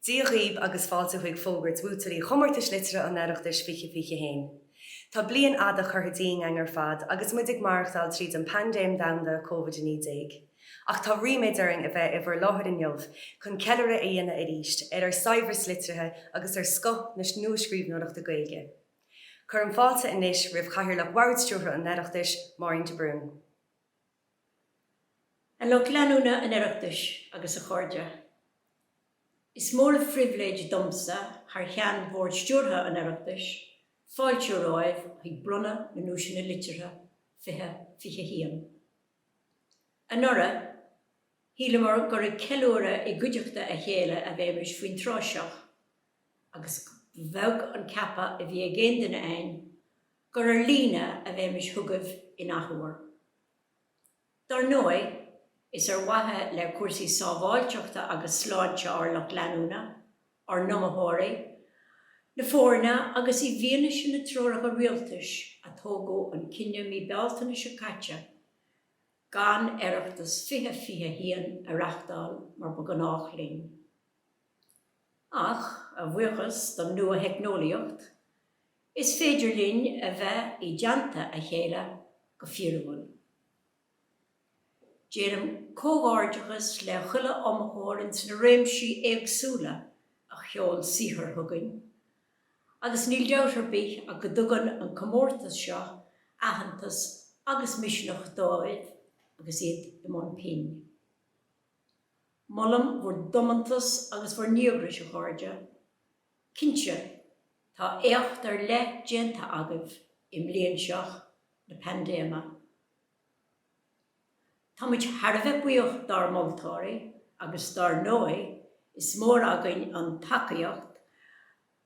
Dia dhaoib agus fáilte chuig fógairt bhuaiteoirí Chomórtais Liteartha an Oireachtais 2021. Tá bliain fhada curtha dínn againn ar fad agus muid ag maireachtáil tríd an paindéim domhanda Covid 19. Ach tá ríméad orainn a bheith i bhur láthair inniu chun ceiliúradh a dhéanamh arís ar ár saibhreas liteartha agus ar scoth na nuascríbhneoireachta Gaeilge. Cuirim fáilte anois roimh Chathaoirleach Bhord-Stiúrtha an Oireachtais, Máirín de Brún. A lucht leanúna an Oireachtais agus a chairde. Is mór an phribhléid domsa, thar cheann Bhord Stiúrtha an Oireachtais, fáiltiú romhaibh chuig Bronnadh na nDuaiseanna Liteartha 2021. Anuraidh, shíleamar gur ag ceiliúradh i gcuideachta a chéile a bheimis faoin tráth seo, agus ba bheag an ceapadh a bhí ag aon duine againn gur ar líne a bheimis chugaibh an athuair. Dár ndóigh, is ar mhaithe le cúrsaí sábháilteachta agus sláinte ár lucht leanúna ár n-iomaitheoirí, na foirne agus i bhfianaise na dtreoracha rialtais a tógadh an cinneadh mí Bealtaine seo caite gan Oireachtas 2021 a reachtáil mar ba ghnách linn. Ach, a bhuíochas don nua-theicneolaíocht, is féidir linn a bheith i dteannta a chéile go fíorúil. Déanaim comhghairdeachas le chuile iomaitheoir ins na réimsí éagsúla a sheol saothar chugainn agus níl dabht ar bith ach go dtugann an comórtas seo aitheantas agus misneach dóibh agus iad i mbun pinn. Molaim bhur dtiomantas agus bhur ndíograis, a chairde. Cinnte, tá éacht ar leith déanta agaibh i mbliain seo na paindéime. Táimid thar a bheith buíoch dár moltóirí agus dár ndóigh is mór againn an tacaíocht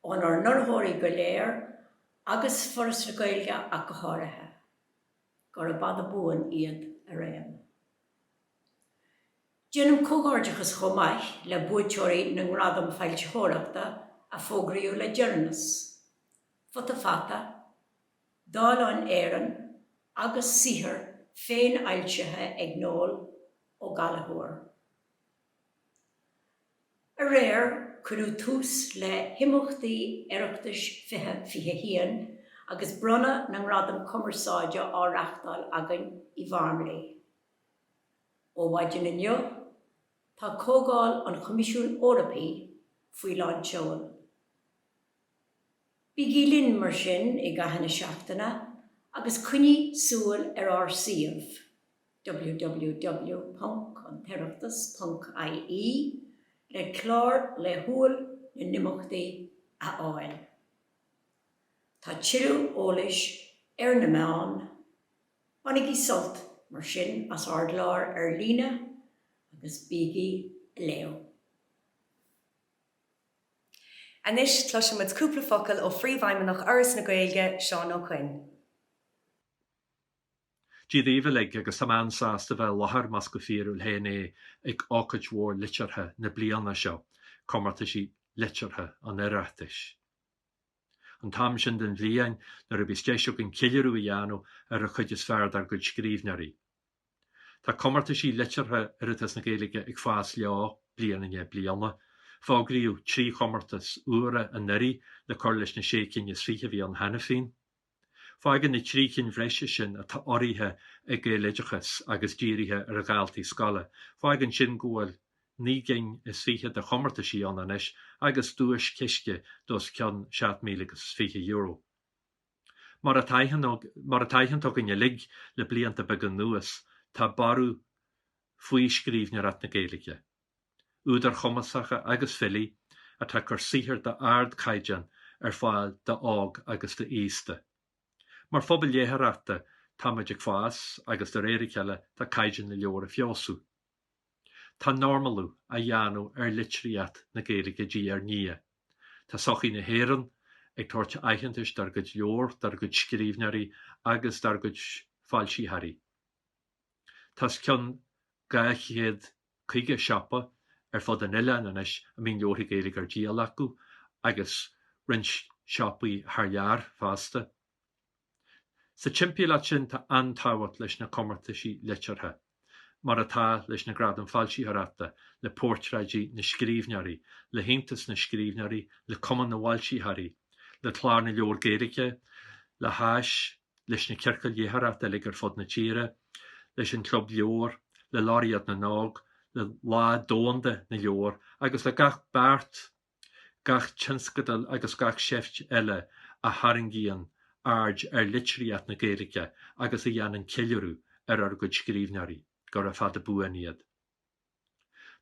ónár n-urraitheoirí go léir agus Foras na Gaeilge ach go háirithe. Gura fada buan iad araon. Déanaim comhghairdeachas chomh maith le buaiteoirí na nGradam Foilsitheoireachta a fógraíodh le deireanas, Futa Fata, Dalen Éireann agus saothar féinfhoilsithe ag Noel Ó Gallchóir. Aréir cuireadh tús le himeachtaí Oireachtais 2021 agus bronnadh na nGradam Cumarsáide á reachtáil againn i bhFarmleigh. Ó mhaidin inniu tá Comhdháil an Choimisiúin Eorpaigh faoi lán tseoil. Bígí linn mar sin i gcaitheamh na seachtaine agus coinnigh súil ar ár suíomh www.antoireachtas.ie le clár laethúil na n-imeachtaí a fháil. Tá tuilleadh eolais ar na meáin. Bainigí sult, mar sin, as ár gclár ar líne agus bígí leo! Anois cloisfidh muid cúpla focal ó Phríomhfheidhmeannach Fhoras na Gaeilge, Seán Ó Coinn. Dia dhaoibh uilig agus tá mé an-sásta bheith i láthair, más go fíorúil féin é, ag ócáid mhór liteartha na bliana seo, Comórtaisí Liteartha an Oireachtais. An t-am sin den bhliain nuair a bhíos deis againn ceiliúradh a dhéanamh ar an chuid is fearr dár gcuid scríbhneoirí. Tá comórtaisí liteartha Oireachtas na Gaeilge ag fás leo bliain i ndiaidh bliana. Fógraíodh trí chomórtas úra anuiridh le cur leis na sé cinn is fiche a bhí ann cheana féin. Fágann na trí chinn bhreise sin atá urraithe ag Gaeloideachas agus dírithe ar dhaltaí scoile, fágann sin go bhfuil naoi gcinn is fiche de chomórtaisí ann anois agus duaischiste d'os cionn seacht míle agus fiche euro. Mar atá aitheanta againn uilig le blianta beaga anuas, tá borradh faoi scríbhneoireacht na Gaeilge. Údair chumasacha agus filí atá ag cur saothar d'ardchaighdeán ar fáil d'óg agus d'aosta. Mar phobal léitheoireachta, táimid ag fás agus de réir a cheile tá caighdeán na leabhar ag feabhsú. Tá normalú á dhéanamh ar litríocht na Gaeilge diaidh ar ndiaidh. Tá sochaí na hÉireann ag tabhairt aitheantais dár gcuid leabhar, dár gcuid scríbhneoirí agus dár gcuid foilsitheoirí. Tá os cionn dhá chéad caoga siopa ar fud an oileáin anois a mbíonn leabharthaí Gaeilge ar díol acu agus roinnt siopaí thar lear fosta. Sa timpeallacht sin tá an-tábhacht leis na comórtaisí liteartha, mar atá leis na Gradaim Foilsitheoireachta, le Portráidí na Scríbhneoirí, le hAontas na Scríbhneoirí, le Cumann na bhFoilsitheoirí, le Clár na Leabhar Gaeilge, le hÁIS, leis na ciorcail léitheoireachta uilig ar fud na tíre, leis an Chlub Leabhar, le Laureate na nÓg, le Lá Domhanda na Leabhar agus le gach beart gach tionscadal agus gach seift eile a tharraingíonn aird ar litríocht na Gaeilge agus a dhéanann ceiliúradh ar ár gcuid scríbhneoirí, gura fada buan iad.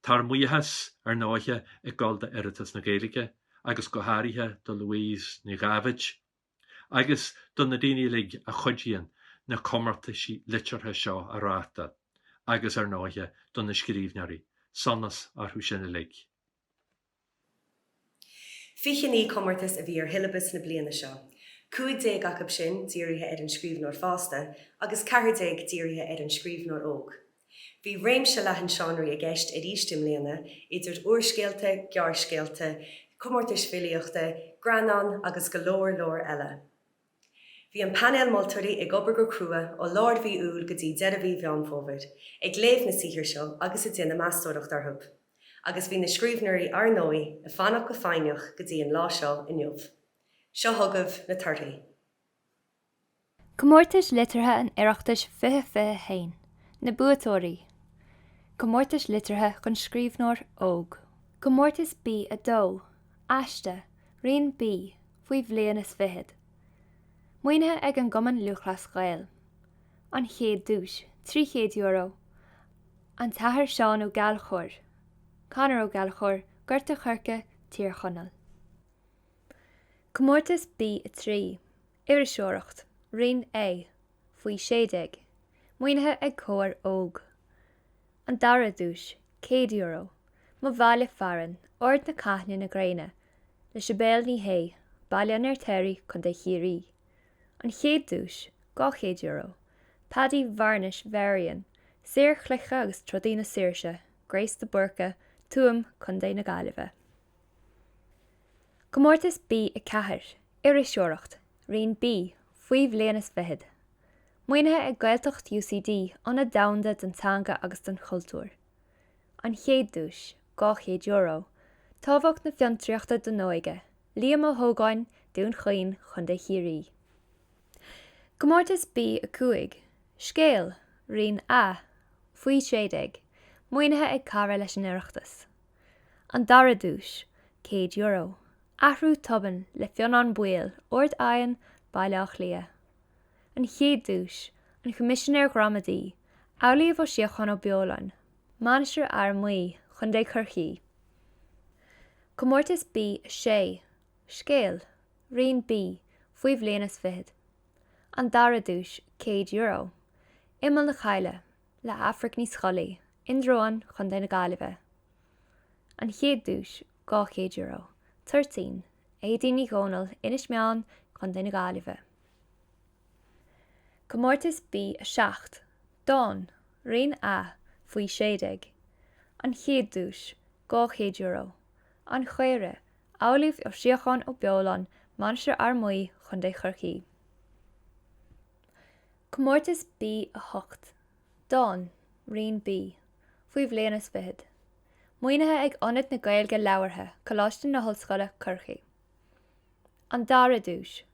Tá ár mbuíochas, ar ndóighe, ag dul d'Oireachtas na Gaeilge agus go háirithe do Louise Nic Dhaibhéid agus do na daoine uilig a chuidíonn na comórtaisí liteartha seo a reáchtáil agus, ar ndóighe, do na scríbhneoirí. Sonas orthu sin uilig. Fiche naoi comórtas a bhí ar shiollabas na bliana seo, cúig déag acu sin dírithe ar an scríbhneoir fásta agus ceathair déag dírithe ar an scríbhneoir óg. Bhí réimse leathan seánraí i gceist arís i mbliana, idir úrscéalta, gearrscéalta, comórtais filíochta, greannáin agus go leor leor eile. Bhí an painéal moltóirí ag obair go crua ó lár mhí Iúil go dtí deireadh mhí Mheán Fómhair, ag léamh na saothar seo agus ag déanamh meastóireacht orthu. Agus bhí na scríbhneoirí, ar ndóigh, ag fanacht go foighneach go dtí an lá seo inniu. Seo chugaibh na torthaí. Comórtais Liteartha an Oireachtais 2021, Na Buaiteoirí, Comórtais Liteartha don Scríbhneoir Óg. Comórtas B2, Aiste, Roinn B. faoi bhliain is fichead. Maoinithe ag an gCumann Lúthchleas Gael. An chéad duais, €300, An tAthair Seán Ó Gallchóir, Conor Ó Gallchóir, Gort a' Choirce, Tír Chonaill. Comórtas B3, Iriseoireacht, Roinn A, faoi sé déag. Maoinithe ag Comhar Óg. An dara duais, €100. Mo Bhaile Fearainn, Ord na Caithne na Gréine, le Sibéal Ní Shé, Baile an Fheirtéaraigh, Co. Chiarraí. An chéad duais, €200. Paddy Varnish Varian, saor chloiche agus trodaí na saoirse, Grace de Búrca, Tuaim, Co. na Gaillimhe. Comórtas B4, Iriseoireacht, Roinn B, faoi bhliain is fichead. Maoinithe ag Gaeltacht UCD, Ionad Domhanda don Teanga agus don Chultúr. An Chéad Duais, €200. Tábhacht na Fiontraíochta don Óige, Liam Ó hÓgáin, Dún Chaoin, Co. Chiarraí. Comórtas B5, Scéal, Roinn A, Faoi 16, Maoinithe ag Cara leis an Oireachtas. An Dara Duais, €100. Athrú tobann le Fionnán Baoill, Ard Aidhin, Baile Átha Cliath. an chéad duais, an Choimisinéir Ghramadaí, Amhlaoibh Ó Síocháin Ó Beoláin, Mainistir Fhear Maí, Co. Chorcaí. Comórtas B6, Scéal, Roinn B faoi bhliain is fichead, an dara duais, €100, Imeall na Coille, le Aifric Ní Scolaí, Indreabhán, Co. na Gaillimhe. An chéad duais, €200, Toirtín, Éadaoin Ní Dhomhnaill, Inis Meáin, Co. na Gaillimhe. Comórtas B7, Dán, Roinn A, Faoi 16, An chéad duais, €200, An chaora, Amhlaoibh Ó Síocháin Ó Beoláin, Mainistir Fhear Maí, Co. Chorcaí. Comórtas B8, Dán, Roinn B, Faoi bhliain is fichead, Maoinithe ag Ionad na Gaeilge Labhartha, Coláiste na hOllscoile, Corcaigh. An dara duais,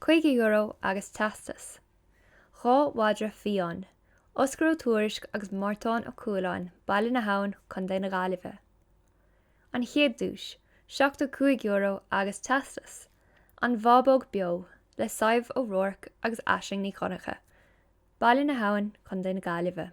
€50 agus teastas. Dhá mhadra fiáin', Oscar Ó Tuairisg agus Mártán Ó Cualáin, Baile na hAbhann, Co. na Gaillimhe. An chéad duais, €75 agus teastas, 'An Bhábóg Beo', le Sadhbh O'Rourke agus Aisling Ní Dhonncha, Baile na hAbhann, Co. na Gaillimhe.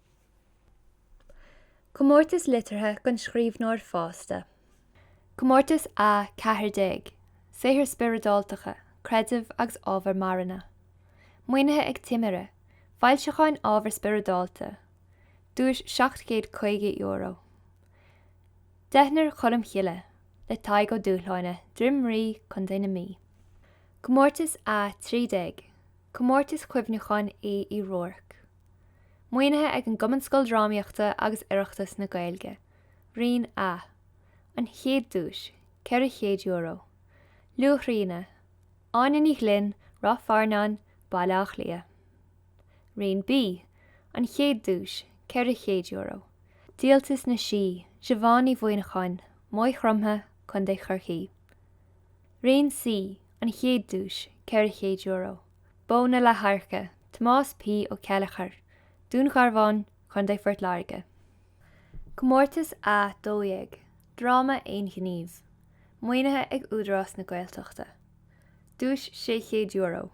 Comórtas Liteartha don Scríbhneoir Fásta. Comórtas a 14, Saothair Spioradáltacha, Creideamh agus Ábhar Marana. Maoinithe ag Timire, Foilseacháin Ábhair Spioradálta. Duais €750. Deichniúr Cholm Chille, le Tadhg Ó Dúshláine, Droim Rí, Co. na Mí. Comórtas a 13, Comórtas Cuimhneacháin Aoidh Uí Ruairc. Maoinithe ag an gCumann Scoildrámaíochta agus Oireachtas na Gaeilge. Roinn A. An chéad duais, €400. Luaithríona, Áine Ní Ghlinn, Ráth Fearnáin, Baile Átha Cliath. Roinn B. An chéad duais, €400. Díoltas na Sí, Siobhán Ní Mhuimhneacháin, Maigh Chromtha, Co. Chorcaí. Roinn C. An chéad duais, €400. Bó na Leathadhairce, Tomás P. Ó Céilleachair, Dún Garbhán, Co. Phort Láirge. Comórtas a 12, dráma aon-ghnímh, maoinithe ag Údarás na Gaeltachta. Duais €600.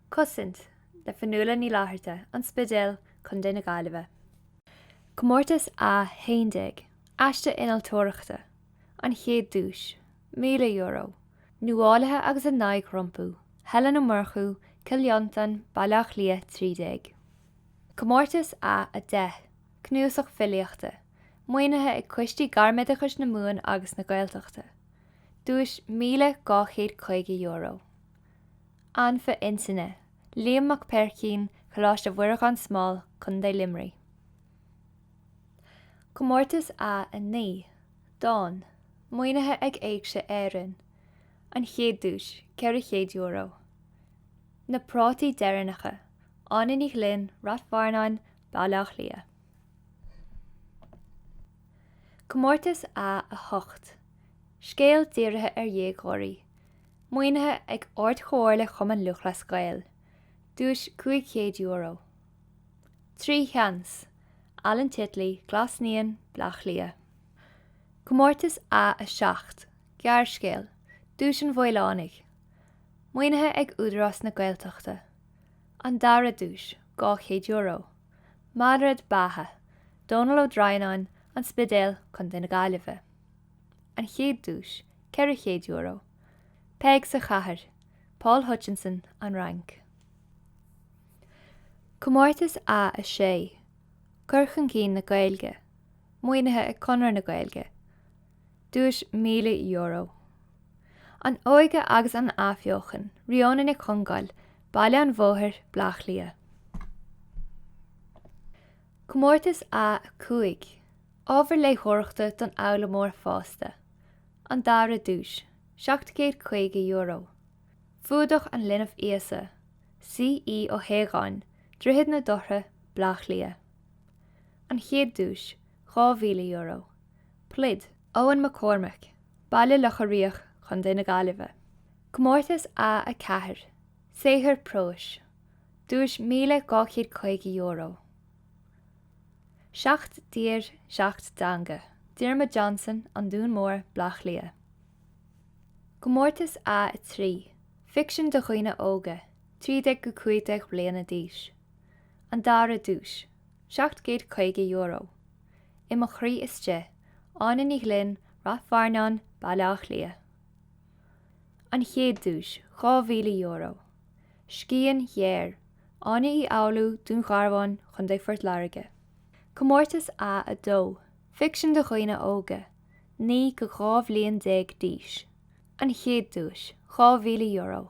Cosaint, le Fionnuala Ní Fhlatharta, An Spidéal, Co. na Gaillimhe. Comórtas a 11, aiste innealtóireachta, an chéad duais, €1,000, nuálaithe agus a n-aghaidh rompu, Helen Ó Murchú, Cill Fhionntain, Baile Átha Cliath 13. Comórtas A10, cnuasach filíochta, maoinithe ag Coistí Gairmoideachais na Mumhan agus na Gaeltachta. Duais €1,250. Anfa Intinne, Liam Mac Peaircín, Coláiste Mhuire Gan Smál, Co. Luimnigh. Comórtas A9. Dán, maoinithe ag Éigse Éireann. An chéad duais, €400. Na prátaí deireanacha, Áine Ní Ghlinn, Ráth Fearnáin, Baile Átha Cliath. Comórtas A8, scéal dírithe ar dhéagóirí, maoinithe ag Ard-Chomhairle Chumann Lúthchleas Gael. Duais €500. Trí sheans, Alan Titley, Glas Naíon, Bleá Cliath. Comórtas A7, gearrscéal, Duais an Mhaolánaigh, maoinithe ag Údarás na Gaeltachta, An Dara Duais, €200, Malrait Beatha, Dónal Ó Droighneáin, An Spidéal, Co. na Gaillimhe. An Chéad Duais, €400, Peig sa Chathair, Paul Hutchinson, An Fhrainc. Comórtas A6, cur chun cinn na Gaeilge. Maoinithe ag Conradh na Gaeilge. Duais €1,000. An Óige agus an Athbheochan, Rióna Nic Congáil, Baile an Bhóthair, Bleá Cliath. Comórtas A5, Ábhar Léitheoireachta don Fhoghlaimeoir Fásta. An Dara Duais, €750. Fuadach an Linbh Íosa, C. E. Ó hAodháin, Droichead na Dothra, Bleá Cliath. An chéad duais, €2,000. Pluid. Eoghan Mac Cormaic, Baile Locha Riach, Co. na Gaillimhe. Comórtas A4, saothar próis. Duais €1,250. Seacht dTír, Seacht dTeanga, Diarmuid Johnson, An Dún Mór, Bleá Cliath. Comórtas A3, ficsean do dhaoine óga, 13-15 bliana d'aois. An dara duais, €750. I mo chroí istigh, Áine Ní Ghlinn, Ráth Fearnáin, Baile Átha Cliath. An chéad duais, €2,000. Scian ghéar, Áine Uí Fhoghlú, Dún Garbhán, Co. Phort Láirge. Comórtas A2, ficsean do dhaoine óga, 9-12 bhliain d'aois. An chéad duais, €2,000.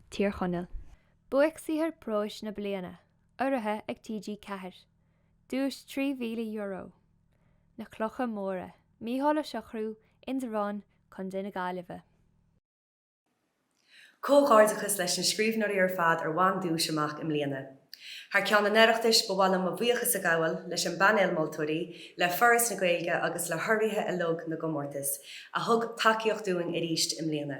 Tír Chonaill. Buaic-Saothar Próis na Bliana, urraithe ag TG Ceathair. Duais €3,000. Na Clocha Móra, Micheál Ó Siochrú, Indreabhán, Co. na Gaillimhe. Comhghairdeachas leis na scríbhneoirí ar fad a bhain duais amach i mbliana. Thar ceann an Oireachtais, ba mhaith liom mo bhuíochas a ghabháil leis an bpainéal moltóirí, le Foras na Gaeilge agus le hurraithe uilig na gcomórtas, a thug tacaíocht dúinn arís i mbliana.